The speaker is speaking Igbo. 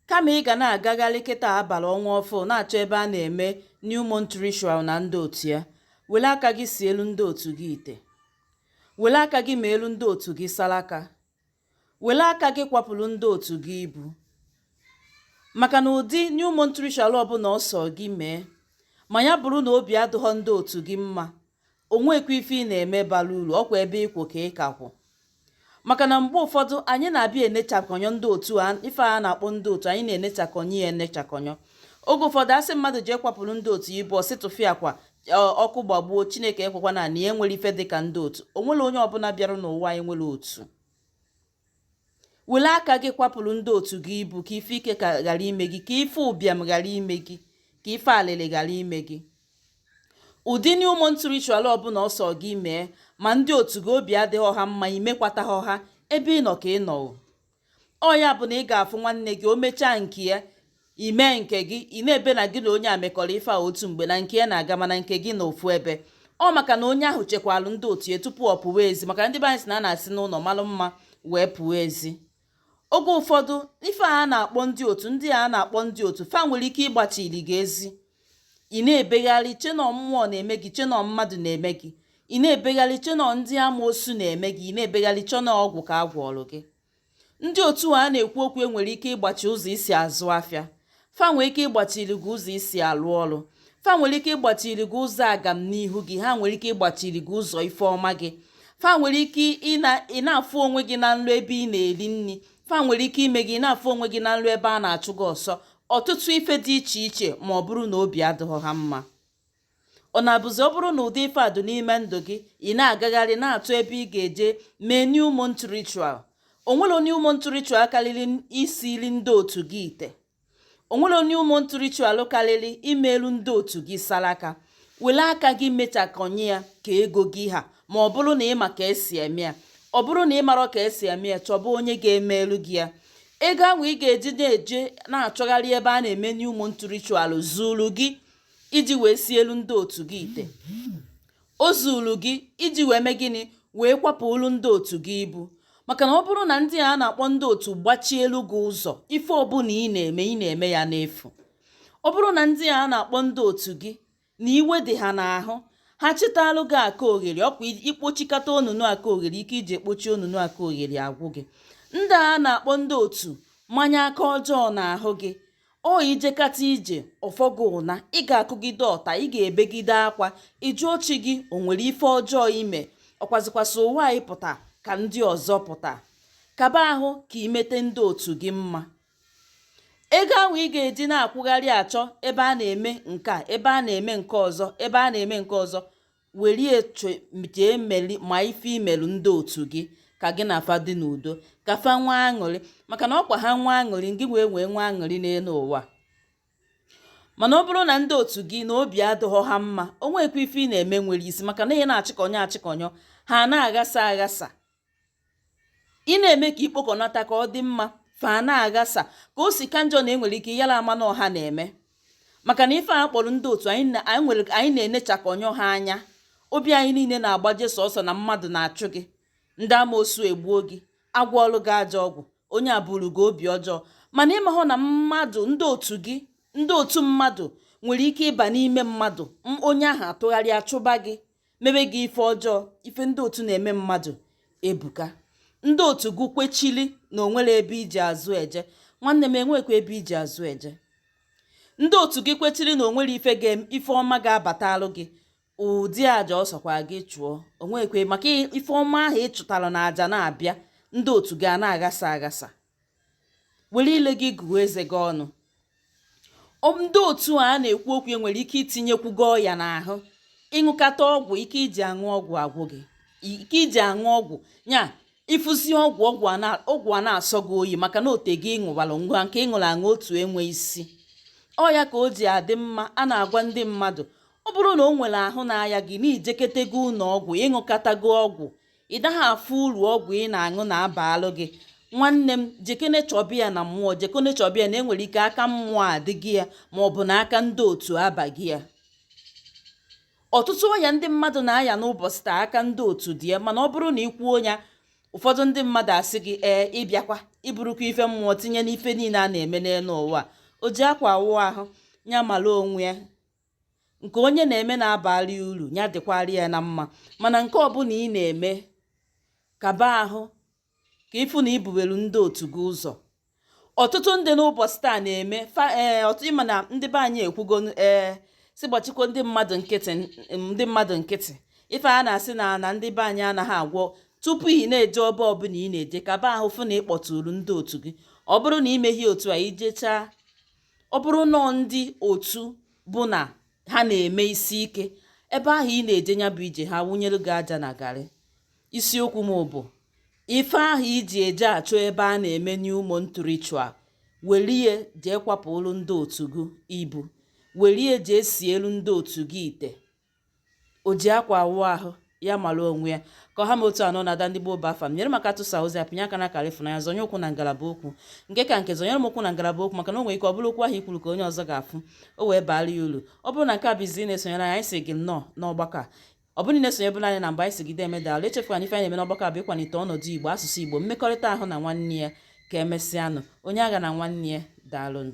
kama ị ga na-agagharị kịta a bala ọnwa ọfụ na-achọ ebe a na-eme new month ritual na ndị otu ya were aka gị sielu ndị otu gị ite were aka gị meelu ndị otu gị salaka were aka gị kwapụrụ ndị otu gị ibu maka na ụdị new month ritual ọbụna ọ sọọ gị mee ma ya bụrụ na obi adịghọ ndị otu gị mma o nwekwa ife ị na-eme bara uru ọkwa ebe ị kwụ ka ị ka kwụ maka na mgbe ụfọdụ anyị na-abịa enechakọnyọ ndị otu a ife a na-akpọ ndị otu anyị na-enechakọnyọ ya enechakọnyọ oge ụfọdụ a sị mmadụ jee kwapụrụ ndị otu ibu ọ sị tụfịakwa ọkụ gbagbuo chineke ekwekwana na ya enwerọ ife dịka ndị otu o nwerọ onye ọbụna bịara n'ụwa na-enwerọ otu were aka gị kwapụrụ ndị otu gị ibu ka ife ike ghara ime gị ka ife ụbịam ghara ime gị ka ife alịlị ghara ime gị ụdị new month ritual ọbụna ọ sọ gị mee ma ndị otu gị obi adịghị ha mma i mekwata ha ebe ị nọ ka ị nọ o. ọ ya bụ na ị ga-afụ nwanne gị o mechaa nke ya i mee nke gị ị na-ebe na gị na onye a mekọrọ ife a otu mgbe na nke ya na-aga mana nke gị nọ ofu ebe ọ maka na onye ahụ chekwalụ ndị otu ya tupu ọ pụwa ezi maka ndị be anyị sị na a na-esi n'ụlọ malụ mma wee pụọ ezi oge ụfọdụ ife a na-akpọ ndị otu ndị a na-akpọ ndị otu fa nwere ike ịgbachiri gị ezi ị na-ebegharị chee na ọ mmụọ na-eme gị chee na ọ mmadụ na-eme gị ị na-ebegharị chee na ọ ndị amoosu na-eme gị ị na-ebegharị chee na ọ ọgwụ ka a gwọọrụ gị ndị otu a a na-ekwu okwu ya nwere ike ịgbachi ụzọ i si azụ afịa fa nwere ike ịgbachiri gị ụzọ i si alụ ọrụ fa nwere ike ịgbachiri gị ụzọ agam n'ihu gị ha nwere ike ịgbachiri gị ụzọ ife ọma gị fa nwere ike ị na-afụ onwe gị na nlọ ebe ị na-eri nri fa nwere ike ime gị ị na-afụ onwe gị na nlọ ebe a na-achụ gị ọsọ ọtụtụ ife dị iche iche ma ọ bụrụ na obi adịghị ha mma Ọ na-abụzi ọ bụrụ na ụdị ife a dị n'ime ndụ gị ị na-agagharị na-achọ ebe ị ga-eje mee new month ritual o nwerọ new month ritual karịrị isiri ndị otu gị ite o nwerọ new month ritual karịrị imelu ndị otu gị saraka were aka gị mechakọnye ya ka ego gị ha ma ọ bụrụ na ị ma ka e si eme ya ọ bụrụ na ị marọ ka e si eme ya chọba onye ga-emelu gị ya ego ahụ ị ga-eji na-eje na-achọgharị ebe a na-eme new month ritual zuru gị iji wee sielu ndị otu gị ite o zuru gị iji wee mee gịnị wee kwapụrụ ndị otu gị ibu maka na ọ bụrụ na ndị a na-akpọ ndị otu gbachielu gị ụzọ ife ọbụna ị na-eme ị na-eme ya n'efu ọ bụrụ na ndị a na-akpọ ndị otu gị na iwe dị ha n'ahụ ha chịtalụ gị aka oghere ọkwa i kpochikata onunu aka oghere ike i ji ekpochi onunu aka oghere agwụ gị ndị a na-akpọ ndị otu manye aka ọjọọ n'ahụ gị ọ ijekata ije ọ fọ gị ụna ị ga-akụgide ọta ị ga-ebegide akwa ị jụọ chi gị o nwere ife ọjọọ ime ọkwazikwasị ụwa anyị pụta ka ndị ọzọ pụta kaba ahụ ka imete ndị otu gị mma ego ahụ ị ga-eji na-akwụgharị achọ ebe a na-eme nke a ebe a na-eme nke ọzọ ebe a na-eme nke ọzọ werie jee meli ma ife imelu ndị otu gị ka gị na fa dị n'udo ka fa nwee aṅụrị maka na ọkwa ha nwee aṅụrị ngị wee wee nwee aṅụrị n'elu ụwa mana ọ bụrụ na ndị otu gị na obi adịghọ ha mma o nwekwa ife ị na-eme nwere isi maka na ị na-achịkọnyọ achịkọnyọ ha na-aghasa aghasa ị na-eme ka ikpokọnata ka ọ dị mma fa na-aghasa ka o si ka njọ na enwere ike yara ama na ọ ha na-eme maka na ife a kpọrọ ndị otu anyị nwere anyị na-enechakọnyụ ha anya obi anyị niile na-agbaje sọsọ na mmadụ na-achụ gị ndị amoosu egbuo gị agwọọrụ gị ajọ ọgwụ onye a buru gị obi ọjọọ mana ị mahọ na mmadụ ndị otu gị ndị otu mmadụ nwere ike ịba n'ime mmadụ onye ahụ atụgharị achụba gị mebe gị ife ọjọọ ife ndị otu na-eme mmadụ ebuka ndị otu gị kwechili na onwere ebe iji azụ eje nwanne m enwekwa ebe iji azụ eje ndị otu gị kwechiri na onwere ife ife ọma ga-abatalụ gị ụdị aja ọ sọkwa gị chụọ onwekwe maka ife ọma ahụ ị chụtara na aja na-abịa ndị otu gị a na-aghasa aghasa were ile gị gụọ eze gị ọnụ ndị otu a na-ekwu okwu e nwere ike itinyekwu gị ọya n'ahụ ịṅụkata ọgwụ ike iji aṅụ ọgwụ agwụ gị ike iji aṅụ ọgwụ ya ịfụzi ọgwụ ọgwụ a na-asọ gị oyi maka na o tego ịṅụwara ngwa nke ịṅụrụ aṅụ otu enwe isi ọ ya ka o ji adị mma a na-agwa ndị mmadụ ọ bụrụ na o nwere ahụ na-aya gị na ijeketego ụlọ ọgwụ ịṅụkatago ọgwụ ị daghị afụ uru ọgwụ ị na-aṅụ na-abalụ gị nwanne m jekene chọba ya na mmụọ jekene chọba ya na enwere ike aka mmụọ adịgo ya ma ọ bụ na aka ndị otu abago ya ọtụtụ ọya ndị mmadụ na-aya n'ụbọchị taa aka ndị otu dị ya mana ọ bụrụ na ị kwuo ya ụfọdụ ndị mmadụ asị gị ee ịbịakwa iburukwa ife mmụọ tinye n'ife niile a na-eme n'elu ụwa o ji akwa awụ ahụ ya mara onwe ya nke onye na-eme na-abalụ ya uru ya dịkwara ya na mma mana nke ọbụla ị na-eme kaba ahụ ka ịfụ na ibubelu ndị otu gị ụzọ ọtụtụ ndị n'ụbọchị taa na-eme eh, ọtụtụ ịma na ndị be anyị ekwugo ee eh, si gbachikwa ndị mmadụ nkịtị ndị mmadụ nkịtị ife a na-asị na na ndị be anyị anaghị agwọ tupu ị na-eje ọba ọbụla ị na-eje kaba ahụ fụ na ị kpọtụrụ ndị otu gị ọ bụrụ na ị meghị otu a ijechaa ọ bụrụ na ndị otu bụ na ha na-eme isi ike ebe ahụ ị na-eje ya bụ ije ha wụnyelu gị aja na garị isiokwu m bụ ife ahụ i ji eje achọ ebe a na-eme new month ritual welie jee kwapụọlụ ndị otu gị ibu welie jee sielu ndị otu gị ite o ji akwa awụ ahụ ya mara onwe ya ka ọ ha m otu a nọ na ada ndị gboo bụ afa m nyere m aka tụsa ozi a pịnye aka n'akara ịfụnanya zọnye ụkwụ na ngalaba okwu nke ka nke zọnyere m ụkwụ na ngalaba okwu maka na o nwere ike ọ bụrụ okwu ahụ i kwuru ka onye ọzọ ga-afụ o wee baara ya uru ọ bụrụ na nke a bụ izizi ị na-esonyere anyị sị gị nnọọ n'ọgbakọ a ọ bụrụ na i sonyebu anyị na mbụ anyị sị gị deeme daalụ echefukwana ife anyị na-eme n'ọgbakọ a bụ ịkwalite ọnọdụ igbo asụsụ igbo mmekọrịta ahụ na nwanne ya ka emesịanụ onye aghana nwanne ya daalụnụ